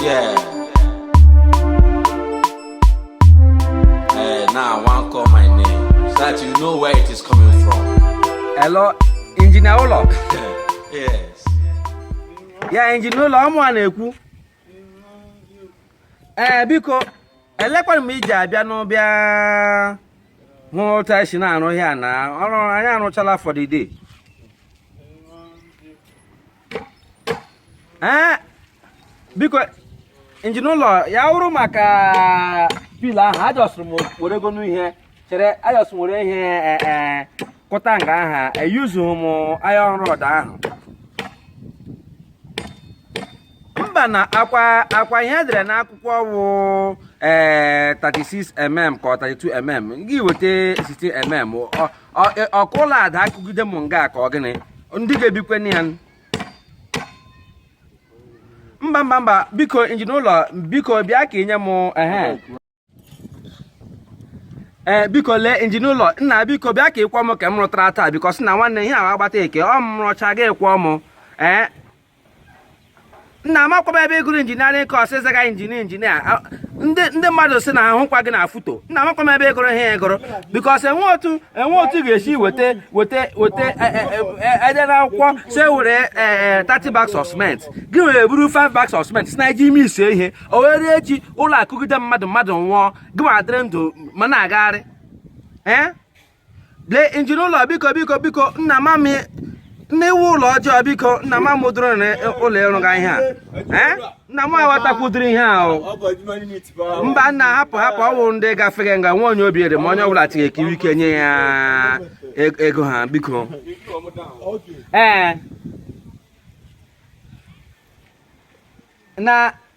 Yeah. Eh, now I want call my name so that you know where it is coming from. Hello, injinia ụlọ. yes. Ya injinia ụlọ ọ mụwa na-ekwu. Ee eh, biko elekwara m iji abịa n'ụbịa hụ otu anyị si na-arụ ihe a na ọrụ anyị arụchala for the day. ee biko injinia ụlọ ya wụrụ maka pillar ahụ ajọsụrụ m were ego n'ihe chere ajọsụrụ were ihe e, e, kụta nga aha eyuzughị m iron rod ahụ mba na ọkwa ọkwa ihe e dere n'akwụkwọ wụ ee 36 mm ka ọ 32 mm gị weta 16 mm e, ọ ka ụlọ ada akụgide m nga ka ọ gịnị ndị ga-ebikwe na ya mba mba mba biko injinia ụlọ biko bịa ka i nye m ehe ee eh, biko lee injinia ụlọ nna biko bịa ka ị kwụọ m nke m rụtara taa biko sị na nwanne ihe ahụ agbata eke ọ m rụcha gị ị kwụọ m ee eh, nna amakwa m ebe ị gụrụ engineering course ị zaga injinia injinia ndị mmadụ sị na ahụkwa gị na foto nna amakwa m ebe ị gụrụ ihe ị gụrụ because enwe otu enwe otu ga-esi weta weta weta e, e, e, e dere n'akwụkwọ sị were 30 bags of cement gị were buru 5 bags of cement sị na i ji ime ise ihe o were echi ụlọ akụgide mmadụ mmadụ nwụọ gị ma adịrị ndụ ma na-agagharị ee lee injinia ụlọ biko biko biko nna ma m na i wu ụlọ ọjọọ biko nna ma m ụdịrị ụlọ ị rụga ihe a nna m aghọtakwudiri ihe ahụ mba nna hapụ hapụ ọ wụ ndị gafere nga nwa onye obi ere ma onye ọbụla tighị ekiri ike nye ya ego ha biko ee na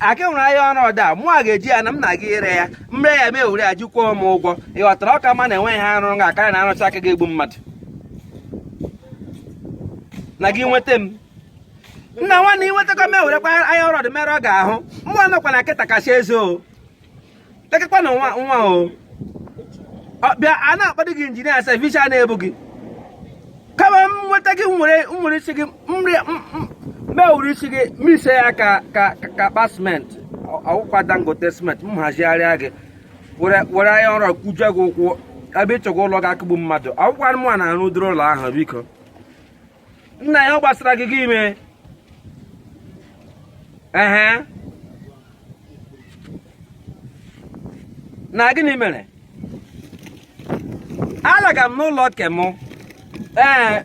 aka nwere iron rod a mụ a ga-eji ya na m na-aga ire ya m ree ya m ewere ya jikwụọ m ụgwọ ị ghọtara okay mana enweghị ihe arụ ga akarị na arụcha nke ga-egbu mmadụ na gị nweta m nna nwanne ị nwetakwa m ewerekwa iron rod merụọ gị ahụ mụ anọkwa na nkịta kasị eze o lekakwa na nwa nwa o bịa a na-akpado gị injinia sef isi a na-ebu gị ka m nweta gị m were m were isi gị m ewere isi gị mix ya ka ka ka akpa siment ọ wụkwa Dangote siment m hazigharịa gị were iron rod kụjie gị ụkwụ ebe ị chọga ụlọ ga-akụgbu mmadụ ọ wụkwa mụwa na-arụ ụdịrị ụlọ ahụ biko nna ya ọ gbasara gị gị ime ehe na gịnị mere alaga m n'ụlọ ke mụ ee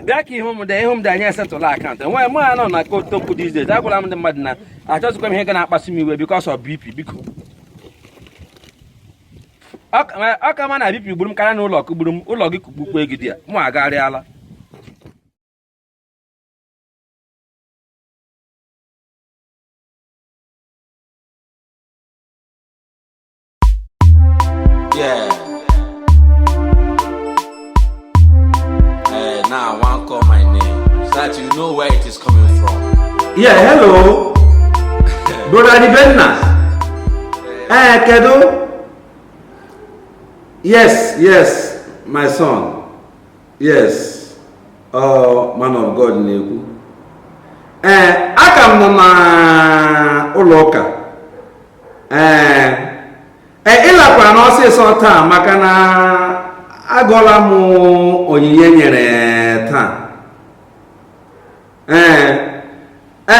bịa ka ihu m dị ihu m dị anyị esettle account enweghị mụ anọ na kotokwu these days agwala m ndị mmadụ na achọzikwa m ihe ga na-akpasu m iwe because of bp biko ọ ka mma na bp gburu m karịa na ụlọ kụgburu m ụlọ gị kụgbukwa gị there mụ agharịala Hey, eh, now I want call my name so that you know where it is coming from. Yeah, hello. Brother Dibenna. Eh, Kedo. Yes, yes, my son. Yes. Oh, man of God na-ekwu. Ee, eh, aka m nọ na ụlọ ụka. Ee, eh, e, ịlakwa na ọsịsọ taa maka na agụọla m onyinye e nyere taa ee e,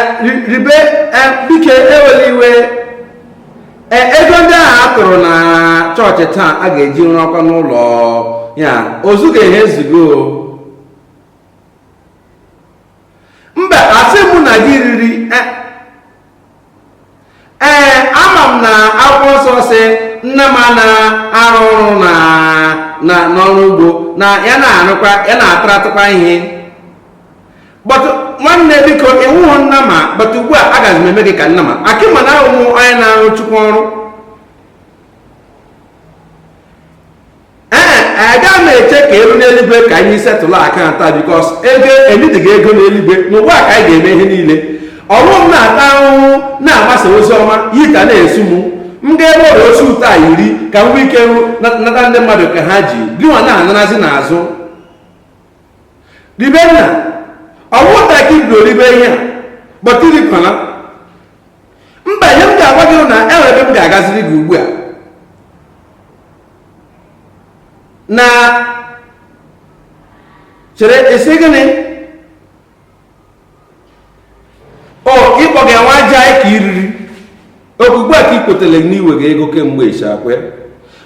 ribe e, biko ewela iwe ego ndị ahụ a tụrụ na chọọchị taa a ga-eji rụọkwa n'ụlọ ya o zuga ihe ezugo mba asị mụ na gị riri e. ee ama m na akwụkwọ nsọ sị nnama na-arụ ọrụ n'ọrụ ugbo na ya na-arụkwa ya na-ataratụkwa ihe but nwanne biko ị wụhụ nnama but ugbu a agaghị m eme gị ka nnama ka ị ma na ahụhụ onye na-arụ chukwu ọrụ ee aga m eche ka e ruo n'eluigwe ka anyị settle account because ego enyedịghị ego n'eluigwe n'ụwa ka anyị ga-eme ihe niile ọ wụ m na-ata ahụhụ na-agbasa ozi ọma yi ka na-esu m m ga-ebe ọrịa osi ụtọ a iri ka m nwee ike nata ndị mmadụ ke ha ji gịnwa na-anarazi n'azụ ribe nna ọ wụ taa ka i bido ribe ihe a but irikwana mba ihe m ga-agwa gị na enwere ebe m ga-agaziri gị ugbu a nna chere ị sị gịnị o ịkpọ gị nwa aja ka i riri ọkwa ugbu a ka ị kwetara na i wega ego kemgbe ịchakwe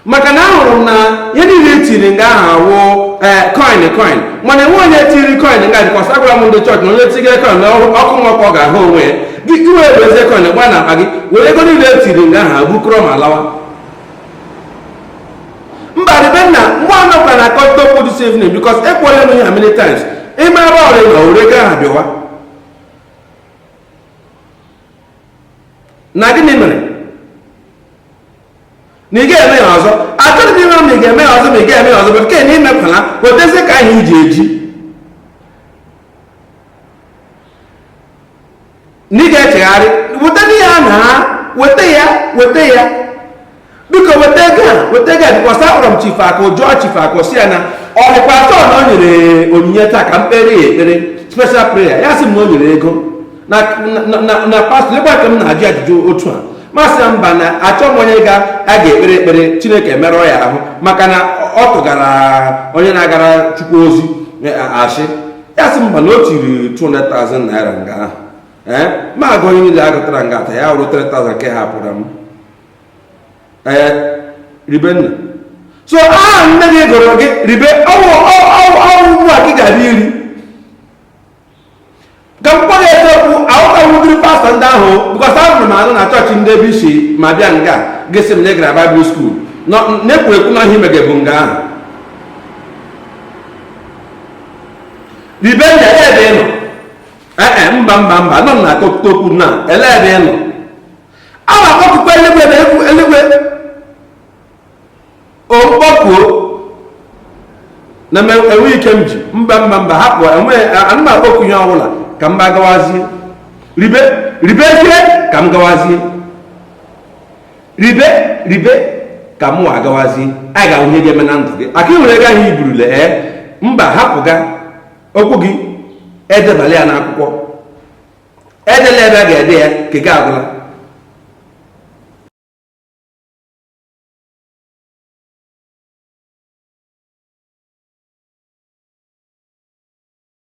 maka na ahụrụ m na ihe niile etiri nga ahụ awụ eh, coin coin mana enwe onye tiri coin nga because agwara m ndị chọọchị na onye tigere coin na ọkụ mmụọ ka ọ ga-ahụ onwe ya gị ewebezie coin gba na akpa gị were ego niile etiri nga ahụ bukọrọ ma lawa mba ribe nna nwa anọ gwara na akọta okwu this evening because ekwuola m ya many times ịma ebe ọ rị na were ego ahụ bịawa na gịnị mere na ị ga-eme ya ọzọ achọghị m ịmara ma ị ga-eme ya ọzọ ma ị ga-eme ya ọzọ bụ nke na imepụla wetazie ka anyị ji eji na ị ga-echegharị weta ya na weta ya weta ya biko weta ego a weta ego a because akpọrọ m chifu akụ jụọ chifu akụ sị ya na ọ dịkwa sure na o nyere onyinye taa ka m kpere ya ekpere special prayer ya sị m na o nyere ego na pastọ ebe ka m na-ajụ ajụjụ otu a m asị ya mba na achọ m onye ga a ga-ekpere ekpere chineke emerụọ ya ahụ maka na ọ tụgara onye na-agara chukwu ozi asị ya sị mba na o tiri 200,000 naira nga ahụ ee eh, m agụọ onyinye niile a gụtara nga a taa ya wụrụ 3,000 nke ha pụrụ m ee eh, Ribenna so aha nne gị gụrụ gị ribe ọ wụ ọ wụ ugbu a gị ga-abịa iri ka m kpọrọ eziokwu ahụta ụdịrị pastọ ndị ahụ because ahụrụ m anụ na chọọchị ndị ebe isi ma bịa nga gị sị m na ị gara Bible school na-ekwu ekwu na ihe i mege bụ nga ahụ Ribenna ele ebe ị nọ ee eh, eh, mba mba mba nọ na akọkụta okwu na ele ebe ị nọ a na-akpọkukwa eluigwe na eluigwe m kpọkuo na enwe ike m ji mba mba mba hapụ ana m akpọku ihe ọbụla ka m gawazie ribezie ka m gawazie ribe ribe ka mụ agawazie a ga-ahụ ihe ga-eme na ndụ gị aka ị nwere ego ahụ i burule ee eh? mba hapụga okwu gị edebala ya n'akwụkwọ edela ebe a ga-ede ya nke gị agwụla